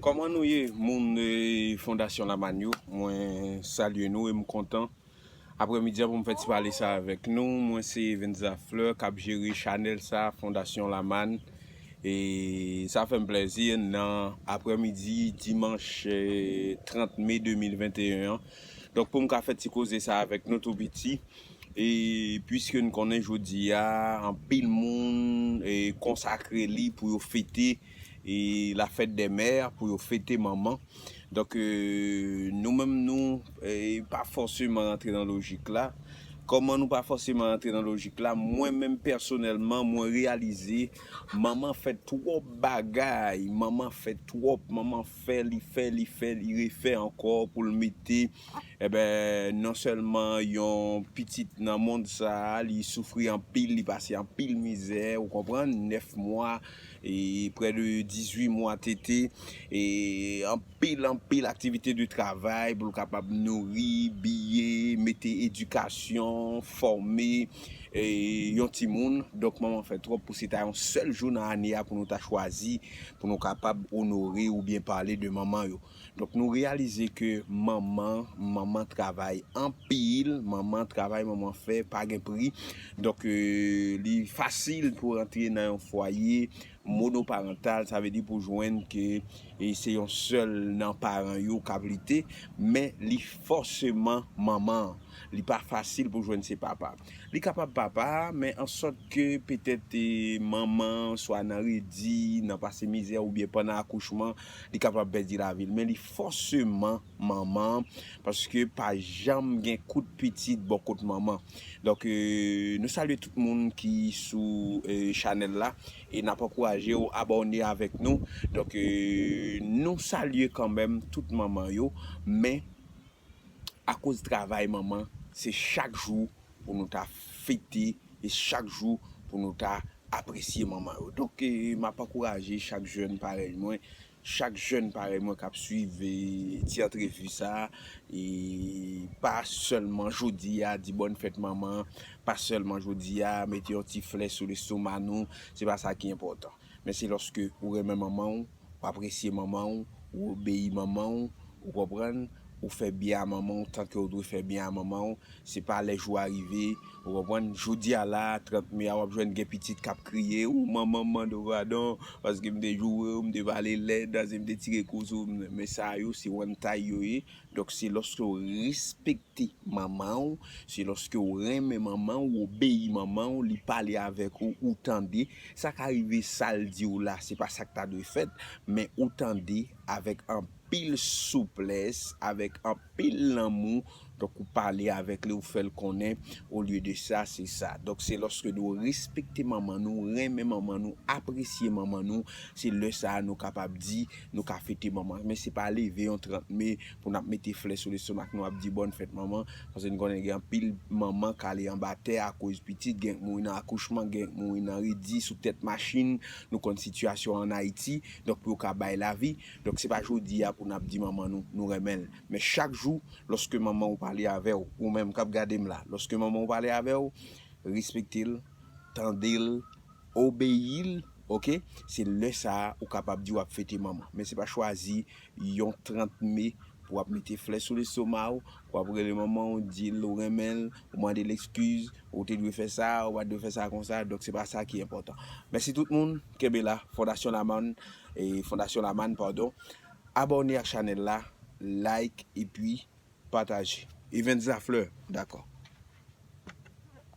Koman nou ye moun fondasyon lamann yo mwen salye nou e m kontan aprè midi an pou m fè ti pale sa avèk nou mwen se Eventza Fleur kap jere chanèl sa fondasyon lamann e sa fè m plèzi nan aprè midi dimanch 30 mai 2021 an donk pou m ka fè ti koze sa avèk nou tou piti. E puiske n konnen jodi a anpil moun konsakre li pou yo fete la fête des mères, pou yo fete manman. Donk nou menm nou pa fòseman rantre nan lojik la. Kòman nou pa fòseman rantre nan lojik la? Mwen menm pèsonèlman mwen reyalize manman fè twòp bagay, manman fè twòp, manman fè li fè li fè li refè ankò pou l mete. Enben, non sèlman yon pitit nan mond sa a, li soufri anpil, li pase anpil mizè, ou konprann, nèf mwa, e prè de dizui mwa tete, e anpil, anpil aktivite de travay pou l kapab nouri, biye, mete edikasyon, fòme yon timoun. Donk, manman fè twòp pou se ta yon sèl jou nan ane a pou nou ta chwazi pou nou kapab onore oubyen pale de manman yo. Donk nou reyalize ke manman, manman travay anpil, manman travay manman fè pa gen pri. Donk li fasil pou rantre nan yon fwaye monoparantal, sa vle di pou jwenn ke se yon sèl nan paran yo kap lite, men li fòseman manman an. Li pa fasil pou jwenn se papa. Li kapab papa a, men an sòt ke petèt manman an swa nan redi, nan pase mizè oubyen pandan akouchman, Li kapab pèdi lavi l men li fòseman manman an paske pa janm gen kout pitit bò kot manman. Donk nou salye tout moun ki sou chanèl la e nap ankouraje w abòne avèk nou. Donk nou salye kanmenm tout manman yo men. akoz travay manman se chak jou pou nou ta fete e chak jou pou nou ta apresye manman yo donk map ankouraje chak jèn parèy mwen chak jèn parèy mwen kap swiv ti antrevi sa e pa sèlman jodi a di bòn fèt manman pa sèlman jodi a mete yon ti flè sou lestoma nou se pa sa ki enpòtan. Men se lòske ou renmen manman w, ou apresye manman w, ou obeyi manman w, ou konprann, ou fè byen a manman w tanke w dwe fè byen a manman w, se pa lè jou a rive, ou konprann, jodi a la a, 30 me a w ap jwenn gen pitit k ap kriye, o manman m mande w padon, paske m te joure w, m te pale lèd, paske m te tire kou sou w, men sa yo se wantay yo ye, Donk se lòske w respekte manman w, se lòske w renmen manman w, w obeyi manman w, li pale avèk ou, ou tande. Sa ka rive sa l di w la se pa sa k ta dwe fèt, men ou tande avèk anpil souplès, avèk anpil lanmou, donk ou pale avèk li, ou fè l konnen, olye de sa, se sa. Donk se lòske nou respekte manman nou, renmen manman nou, apresye manman nou, se lè sa a nou kapab di. Nou ka fete manman, men se pa leve yon 30 me pou n ap mete flè sou lestomak nou ap di bòn fèt manman, paske n konnen gen anpil manman k ale anba tè akoz pitit, gen k mouri nan akouchman, gen k mouri nan redi, sou tèt machin, nou konn sitiyasyon an Ayiti, donk pou yo ka bay lavi, donk se pa jodi a pou n ap di manman nou, nou renmen l, men chak jou lòske manman w pale avè w, ou menm k ap gade m la, lòske manman w pale avè w, respekte l, tande l, Obeyi l ok se lè sa a ou kapab di wap fete manman men se pa chwazi yon 30 me pou wap mete flè sou lestonma w pou wap rele manman w di l ou renmen l ou mande l ekskiz ou te dwe fè sa ou pat dwe fè sa konsa donk se pa sa ki enpòtan mèsi tout moun kenbe la fondasyon lamann fondasyon lamann padon abòne ak chanèl la like epi pataje Evens Lafleur dakò.